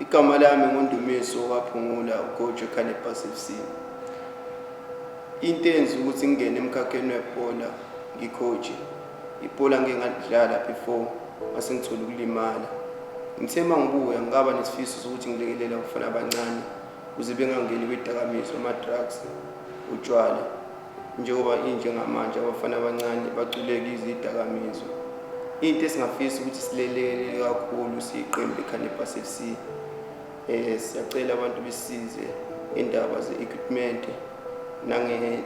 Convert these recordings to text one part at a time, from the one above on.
Igama lami nguNdumiso waphungula uGojo Cannabis FC. Into enza ukuthi ngingene emkhakheni webhola ngikhoje. Ibhola ngike ngalidlala before mase ngithola ukulimala. Ngithe uma ngibuya ngikaba nesifiso sokuthi ngilekelela abafana abancane ukuze bengangeni kwidakamizwa, ama-drugs, utshwala. Njengoba injengamanje abafana abancane baculeka izidakamizwa. Into esingafisa ukuthi silelele kakhulu siyiqembu leKhanebha FC. Eh siyacela abantu besize indaba ze-equipment nange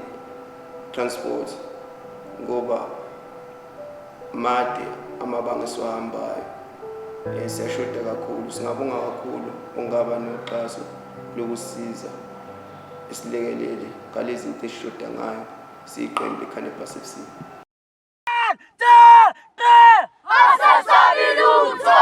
transport ngoba made amabanga esiwahambayo eh, siyashoda kakhulu singabonga kakhulu ungaba noxhaso lokusiza Isilekeleli ngalezi nto esishoda ngayo siyiqembu le-Cannabis FC. Asasabi lutho!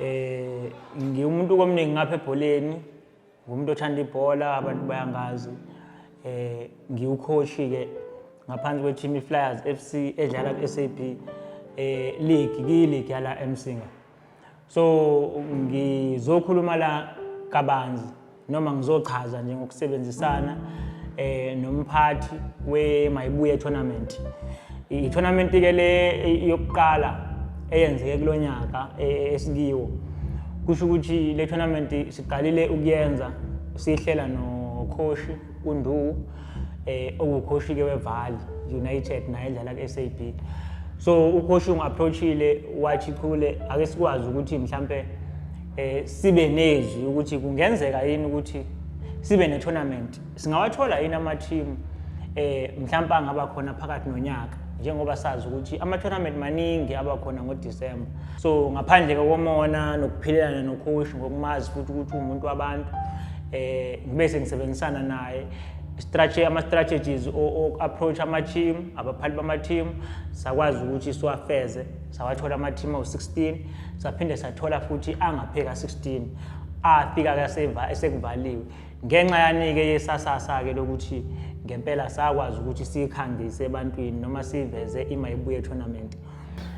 Eh ngiwumuntu komningi ngapha ebholeni, ngumuntu othanda ibhola abantu bayangazi. Eh ngiwucoach ke ngaphansi kweteam iFlyers FC edlala kuSAB eh league kuyiligi yala eMsinga. So ngizokhuluma la kabanzi noma ngizochaza nje ngokusebenzisana eh nomphathi we Mayibuye tournament i tournament ke le yokuqala eyenzeke kulonyaka e, esikiwo kusho ukuthi le tournament siqalile ukuyenza sihlela no coach undu eh ukhoshi ke weval united naye edlala ku-sab so ukhoshi ungu-approachile wathi khule ake sikwazi ukuthi mhlampe eh sibe nezwi ukuthi kungenzeka yini ukuthi sibe ne-tournament singawathola yini amathimu eh mhlawumbe angaba khona phakathi nonyaka njengoba sazi ukuthi ama-tournament maningi aba khona ngodisemba so ngaphandle kokomona nokuphilelana nokhoshi ngokumazi futhi ukuthi uwumuntu wabantu um ngibe sengisebenzisana naye ama-strategies o-approach ama-team abaphathi bama-team sakwazi ukuthi siwafeze sawathola ama-team awu-16 saphinde sathola futhi angapheka 16 afika-ke esekuvaliwe Ngenxa yanike yesasasa-ke lokuthi ngempela sakwazi ukuthi siyikhangise ebantwini noma siyiveze imayibuye tournament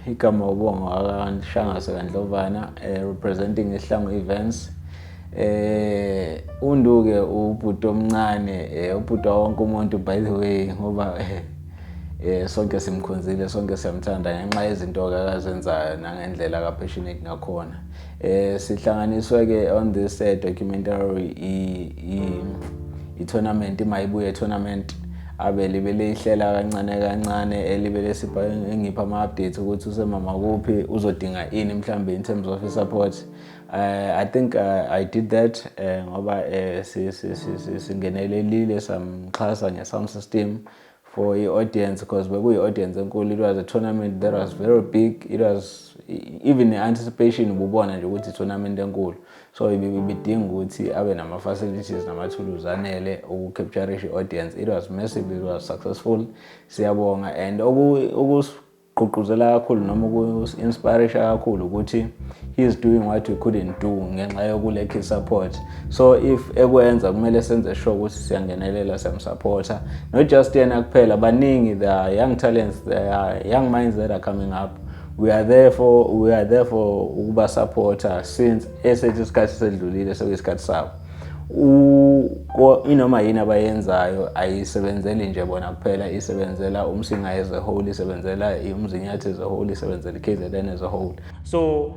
igama ubonga wakanhlangase kandlovana eh, representing ihlango events eh unduke ubhuti omncane eh, ubhuti wonke umuntu by the way ngoba eh, eh sonke simkhonzile sonke siyamthanda ngenxa yezinto akazenzayo nangendlela ka passionate ngakhona Eh sihlanganiswe ke on this uh, documentary i, i, i tournament imayibuye tournament abe libe leyihlela kancane kancane elibe lesipha engipha ama updates ukuthi usemama kuphi uzodinga ini mhlambe in terms of support uh, i think uh, i did that uh, ngoba uh, singenelelile samxhasa nge sound system for i-audience because bekuyi-audience enkulu it was a tournament that was very big it was even ne-anticipation ububona nje ukuthi i-tournament enkulu so ibidinga ukuthi abe nama-facilities namathuluzi anele ukucapturisha i-audience it was massive it was successful siyabonga and gqugquzela kakhulu noma uku-inspirisha kakhulu ukuthi he's doing what we couldn't do ngenxa yokulekhi support so if ekwenza kumele senze sure ukuthi siyangenelela siyamsupporta not just yena kuphela baningi the young talents the young minds that are coming up we are there for we are there for ukuba supporter since esethu isikhathi sedlulile sekuyisikhathi sabo inoma yini abayenzayo ayisebenzeli nje bona kuphela isebenzela umsinga as a whole isebenzela umzinyathi as a whole isebenzela i-kzn as a whole so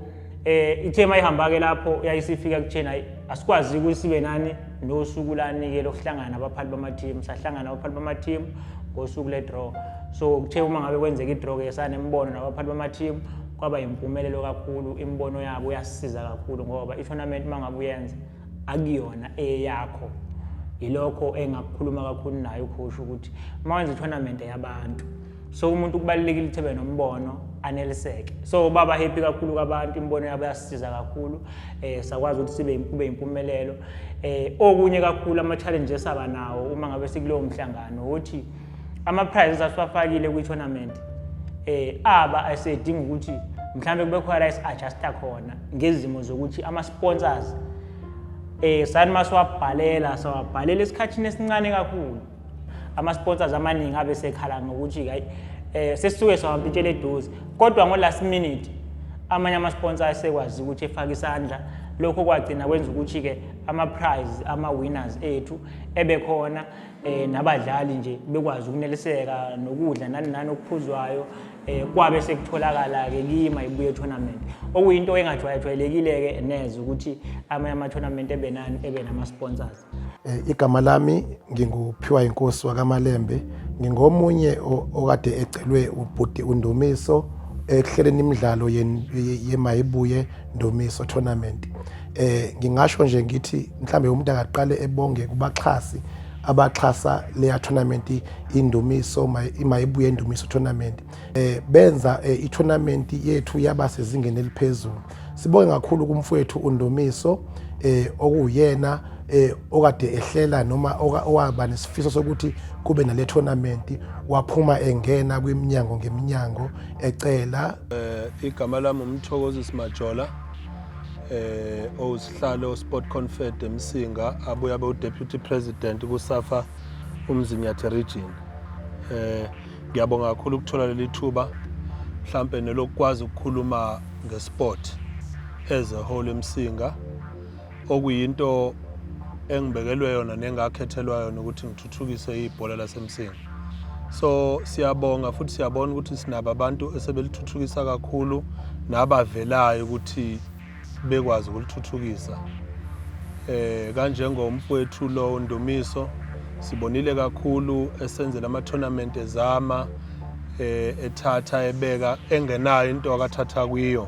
eh ithema ihamba-ke lapho yayisifika kutheni hayi asikwazi ukuthi sibe nani nosuku lanike lokuhlangana abaphathi bamathimu sahlangana abaphathi bamathimu ngosuku le-draw so kuthe uma ngabe kwenzeka i-draw-ke sanembono nabaphathi bamathimu kwaba yimpumelelo kakhulu imibono yabo yasisiza kakhulu ngoba i-tournament uma ngabe uyenza akuyona eyakho yilokho engakukhuluma kakhulu nayo ukhusha ukuthi uma wenza i-tournament yabantu so umuntu kubalulekile ukuthi ebe nombono aneliseke so baba happy kakhulu kwabantu imibono yabo yasisiza kakhulu eh sakwazi ukuthi sibe kube impumelelo eh okunye kakhulu ama challenges aba nawo uma ngabe sikulowo mhlangano ukuthi ama prizes asiwafakile kwi tournament eh aba asedinga ukuthi mhlawumbe kube khona is adjuster khona ngezimo zokuthi ama sponsors eh sani masiwabhalela sawabhalela esikhathini esincane kakhulu ama sponsors amaningi abe sekhala ngokuthi hayi eh sesisuke sawampintshela eduze kodwa ngo last minute amanye ama sponsors asekwazi ukuthi efake isandla lokho kwagcina kwenza ukuthi ke ama prize ama winners ethu ebe khona eh nabadlali nje bekwazi ukuneliseka nokudla nani nani okuphuzwayo eh kwabe sekutholakala ke kima ibuye tournament okuyinto engajwayelekile ke neze ukuthi amanye ama tournament ebenani ebe nama sponsors eh, igama lami nginguphiwa inkosi wakamalembe ngingomunye okade ecelwe ubhuti undumiso ekuhleleni imidlalo yemayibuye ndumiso tournament eh ngingasho nje ngithi mhlambe umuntu akaqale ebonge kubaxhasi abaxhasa leya tournament indumiso mayibuye indumiso tournament eh benza eh, i tournament yethu yaba sezingeni eliphezulu sibonge kakhulu kumfowethu undumiso eh okuyena eh okade ehlela noma owaba nesifiso sokuthi kube nale tournament waphuma engena kwiminyango ngeminyango ecela eh igama lami umthokozisi majola eh owusihlalo Sport Confed eMsinga abuya be Deputy President kuSafa uMzinyathi Region eh ngiyabonga kakhulu ukuthola leli thuba mhlambe nelokwazi ukukhuluma ngesport as a whole eMsinga okuyinto engibekelwe yona nengakhethelwa yona ukuthi ngithuthukise ibhola lasemsinga so siyabonga futhi siyabona ukuthi sinabo abantu esebelithuthukisa kakhulu nabavelayo ukuthi bekwazi ukulithuthukisa eh kanjengomfowethu lo Ndumiso sibonile kakhulu esenzela ama tournament ezama eh ethatha ebeka engenayo into akathatha kuyo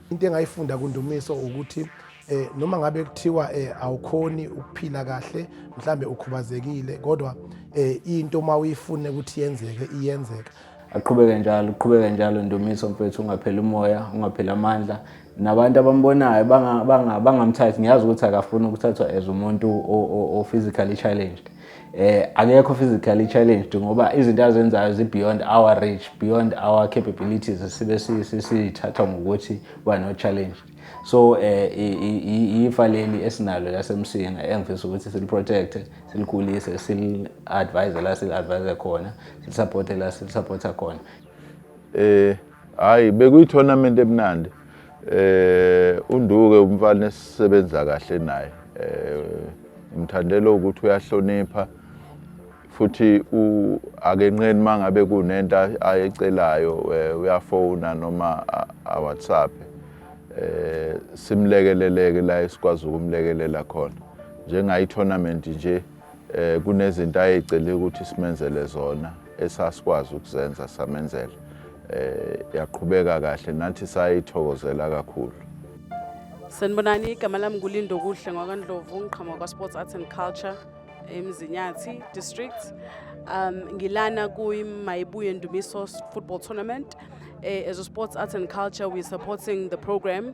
into engayifunda kundumiso ukuthi eh noma ngabe kuthiwa eh awukhoni ukuphila kahle mhlambe ukhubazekile kodwa eh into uma uyifune ukuthi yenzeke iyenzeka aqhubeke njalo uqhubeke njalo ndumiso mfethu ungapheli umoya ungapheli amandla nabantu abambonayo bangamthathi ngiyazi ukuthi akafuni ukuthathwa as umuntu o-physically challenged eh akekho physically challenged ngoba izinto azenzayo zi beyond our reach beyond our capabilities sibe sisithatha ngokuthi ba no challenge so eh ifa leli esinalo lasemsinga engifisa ukuthi sil protect silikhulise sil advise la sil advise khona sil support la sil support khona eh Hayi bekuyi-tournament emnandi eh unduke umfana esisebenza kahle naye eh ngimthandela ukuthi uyahlonipha futhi akenqeni mangabe kunento ayecelayo eh, uyafona noma aWhatsApp eh simlekeleleke la esikwazi ukumlekelela khona njengayi tournament nje Eh kunezinto ayecele ukuthi simenzele zona esasikwazi ukuzenza samenzela. Eh yaqhubeka kahle nathi sayithokozela kakhulu. Sanibonani igama lami nguLindo Kuhle ngwakaNdlovu ngiqhamuka kwaSports Arts and Culture eMzinyathi district. Um ngilana kuyiMayibuye Ndumiso Football Tournament. Eh, as a sports arts and culture we're supporting the program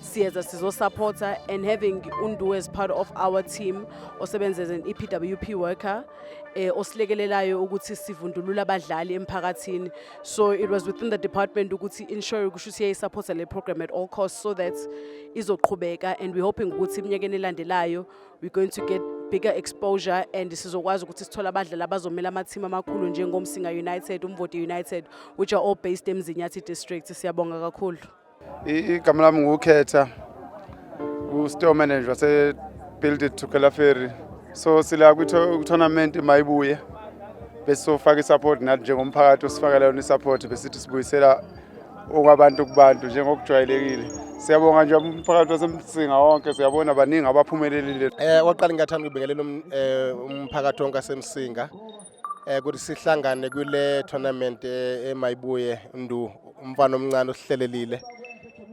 siyeza sizosupporta and having undu as part of our team osebenza as an epwp worker eh, osilekelelayo ukuthi sivundulule abadlali emphakathini so it was within the department ukuthi ensure kusho ukuthi yayisupporta le program at all costs so that izoqhubeka and we're hoping ukuthi eminyakeni elandelayo we're going to get bigger exposure and sizokwazi ukuthi sithole abadlali abazomela amathimu amakhulu njengomsinga united umvoti united which are all based emzinyathi district siyabonga kakhulu Igama lami ngukhetha ku-store manager wase-build it tukela ferry so sila kwi-tournament mayibuye bese sofaka i-support nathi njengomphakathi osifakela yona i-support besithi sibuyisela okwabantu kubantu njengokujwayelekile siyabonga nje umphakathi wasemsinga wonke siyabona baningi abaphumelelile um eh, kwaqala ngingathanda ukubingelela um, eh, umphakathi wonke asemsinga eh ukuthi sihlangane kule tournament eh, emayibuye ndu umfana omncane osihlelelile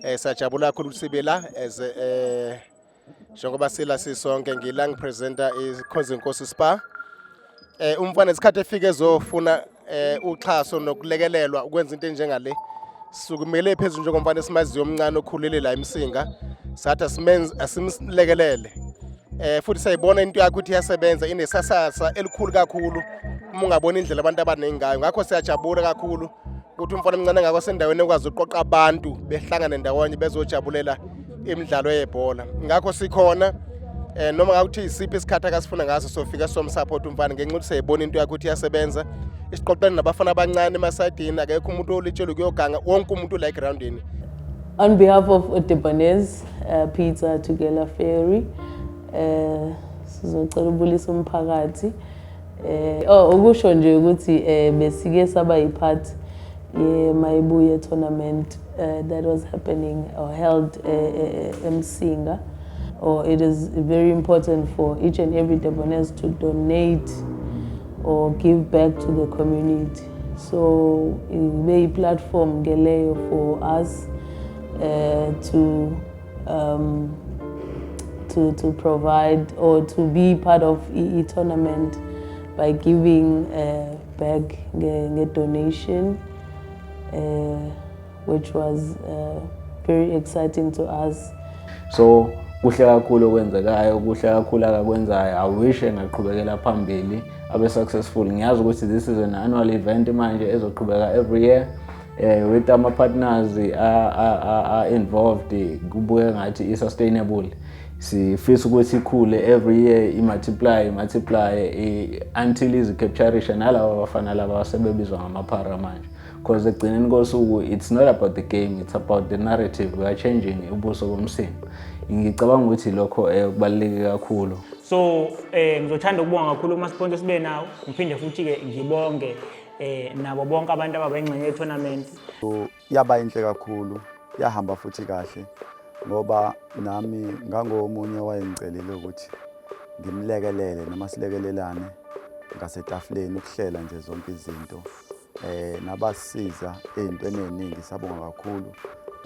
eh sajabula kakhulu ukuthi sibe la as eh njengoba sila sisonke ngila ngipresenta ikhonzi inkosi spa eh umfana isikhathi efike ezofuna eh uxhaso nokulekelelwa ukwenza into enjengale sukumele phezulu njengomfana esimaziyo omncane okhulele la emsinga sathi asimlekelele eh futhi sayibona into yakho ukuthi iyasebenza inesasasa elikhulu kakhulu uma ungabona indlela abantu abaningi ngayo ngakho siyajabula kakhulu ukuthi umfana omncane ngakho sendaweni ekwazi ukuqoqa abantu behlangane ndawonye bezojabulela imidlalo yebhola ngakho sikhona eh noma ngakuthi isiphi isikhathi akasifuna ngaso sofika somsupport umfana ngenxa ukuthi seyibona into yakhe ukuthi iyasebenza isiqoqeni nabafana abancane emasayidini akekho umuntu olitshelwe kuyoganga wonke umuntu la egroundini On behalf of Udibanez, uh, Peter Tugela Ferry eh sizocela ubulisa umphakathi eh oh ukusho nje ukuthi eh besike saba yipart ye mayibuye tournament uh, that was happening or held uh, uh, eMsinga or it is very important for each and every Debonese to donate or give back to the community so ibe yi-platform ke leyo for us uh, to um, to to provide or to be part of i-tournament by giving uh, back nge-donation nge uh, which was uh, very exciting to us so kuhle kakhulu okwenzekayo kuhle kakhulu akakwenzayo i wish engaqhubekela phambili abe successful ngiyazi ukuthi this is an annual event manje ezoqhubeka every year eh with ama partners are involved kubuye ngathi i sustainable sifisa ukuthi ikhule every year i-multiply multiply until izi-capturisha nalaba bafana laba sebebizwa ngamaphara manje because ekugcineni kosuku it's not about the game it's about the narrative we are changing ubuso bomsimba ngicabanga ukuthi lokho um kubaluleke kakhulu so um ngizothanda ukubonga kakhulu umasponto sibe nawo ngiphinde futhi-ke ngibonge um nabo bonke abantu ababengxenye ye-tournament yaba inhle kakhulu yahamba futhi kahle ngoba nami ngangomunye owayengicelile ukuthi ngimlekelele noma silekelelane ngasetafuleni ukuhlela nje zonke izinto eh nabasiza ezintweni eziningi sabonga kakhulu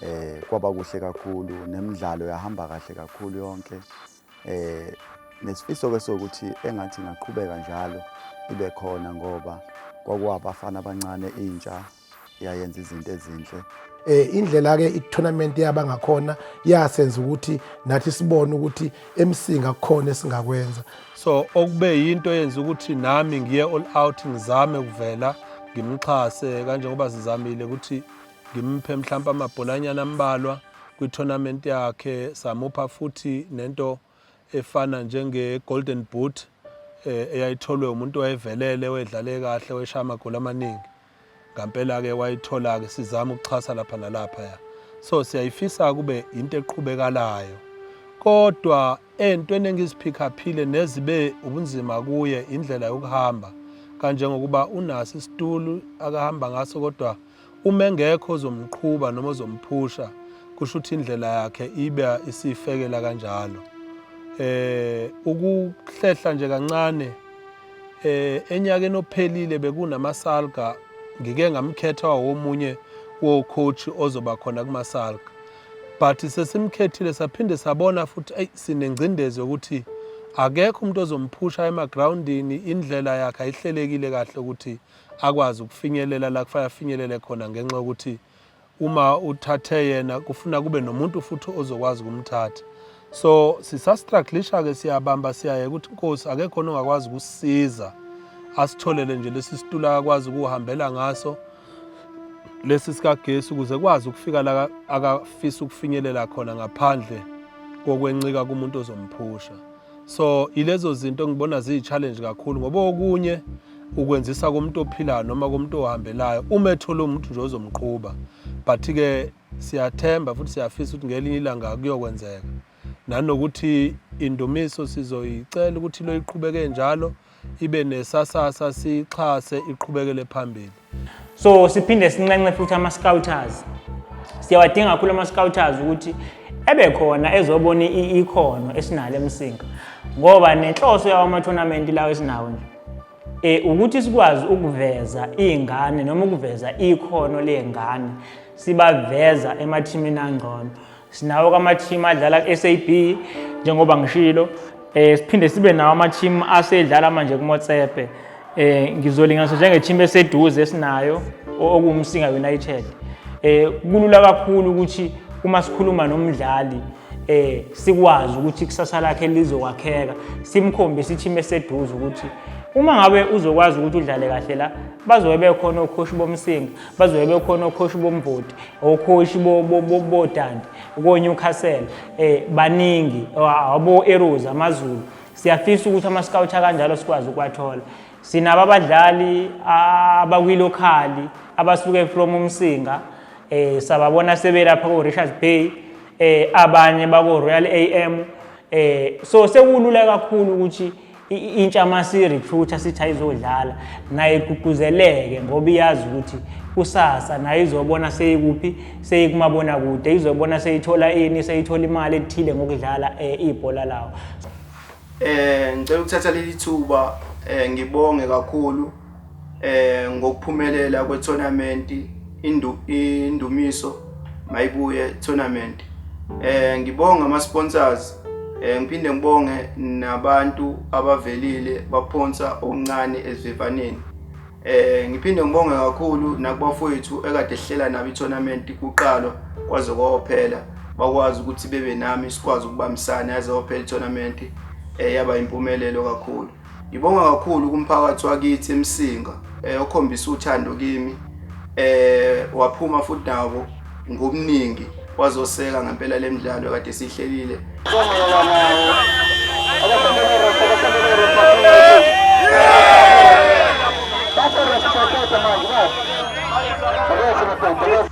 eh kwaba kuhle kakhulu nemidlalo yahamba kahle kakhulu yonke eh nesifiso ke sokuthi engathi ngaqhubeka njalo ibe khona ngoba kwakuwabafana abancane intsha yayenza izinto ezinhle eh indlela ke i-tournament yaba ngakhona yasenza ukuthi nathi sibone ukuthi emsinga kukhona esingakwenza so okube yinto yenza ukuthi nami ngiye all out ngizame kuvela ngimxhase kanjengoba sizamile ukuthi ngimphe mhlawumbe amabholanyana ambalwa kwi-tournament yakhe samupha futhi nento efana njenge-golden boot um eyayitholwe umuntu wayevelele wedlale kahle weshaya amagoli amaningi ngampela-ke wayithola-ke sizama ukuxhasa lapha nalaphaya so siyayifisa kube yinto eqhubekalayo kodwa entweni engiziphikhaphile nezibe ubunzima kuye indlela yokuhamba kanjengokuba unaso isitulu akahamba ngaso kodwa uma engekho ozomqhuba noma ozomphusha kusho ukuthi indlela yakhe ibe isifekela kanjalo eh ukuhlehla nje kancane Eh enyakeni ophelile bekunamasalga ngike ngamkhetha womunye wo coach ozoba khona kumasalga. But sesimkhethile saphinde sabona futhi ay sinengcindezi ukuthi akekho umuntu ozomphusha emagroundini indlela yakhe ayihlelekile kahle ukuthi akwazi ukufinyelela la kufanele afinyelele khona ngenxa yokuthi uma uthathe yena kufuna kube nomuntu futhi ozokwazi ukumthatha so sisastruglisha ke siyabamba siyaye ukuthi inkosi akekho ongakwazi ukusiza asitholele nje lesi situla akwazi ukuhambela ngaso lesi sikagesi ukuze kwazi ukufika la akafisa ukufinyelela khona ngaphandle kokwencika kumuntu ozomphusha so ilezo zinto engibona ziyi-challenge kakhulu ngoba okunye ukwenzisa komuntu ophilayo noma komuntu ohambelayo uma ethole umuntu nje ozomqhuba but-ke siyathemba futhi siyafisa ukuthi ngelinye ilanga kuyokwenzeka nanokuthi indumiso sizoyicela ukuthi loyiqhubeke njalo ibe nesasasa siyixhase iqhubekele phambili so siphinde sinxenxe futhi ama-scouters siyawadinga kakhulu ama-scouters ukuthi ebe khona ezobona ikhono esinalo emsinga ngoba nenhloso yawo ama-tournament lawo esinawo nje eh ukuthi sikwazi ukuveza izingane noma ukuveza ikhono lezingane sibaveza emathimini angcono Sinawo kamathimu adlala ku-SAB njengoba ngishilo eh siphinde sibe nawo amathimu asedlala manje kuMotsepe eh ngizolinganisa njengethimu eseduze esinayo okuwumsinga United eh kulula kakhulu ukuthi uma sikhuluma nomdlali eh sikwazi ukuthi kusasa lakhe lizokwakheka simkhombe sithi meseduze ukuthi uma ngabe uzokwazi ukuthi udlale kahle la bazobe bekhona okhoshi bomsinga bazobe bekhona okhoshi bomvoti okhoshi botandi konyukhasela um eh, baningi abo-eros amazulu siyafisa ukuthi ama-scout akanjalo sikwazi ukuwathola sinabo abadlali abakwilokhali abasuke from umsinga eh sababona sebelapha ko Richards Bay eh abanye bako Royal AM eh so sekulula kakhulu ukuthi intsha uma siyirecruiter sithi ayizodlala naye igqugquzeleke ngoba iyazi ukuthi kusasa naye izobona seyikuphi seyikumabona kude izobona seyithola ini seyithola imali ethile ngokudlala um ibhola lawo um ngicela ukuthatha leli thuba um ngibonge kakhulu eh ngokuphumelela kwe tournament indu indumiso mayibuye tournament eh ngibonga ama sponsors eh ngiphinde ngibonge nabantu abavelile baphonsa okuncane esivivaneni eh ngiphinde ngibonge kakhulu nakubafowethu ekade ehlela nabo i tournament kuqalwa kwaze kwaphela bakwazi ukuthi bebe nami sikwazi ukubambisana yaze waphela i tournament eh yaba impumelelo kakhulu Ngibonga kakhulu kumphakathi wakithi eMsinga eh, okhombisa uthando kimi eh waphuma futhi nawo ngobuningi wazoseka ngempela lemidlalo kade sihlelile. Thank you.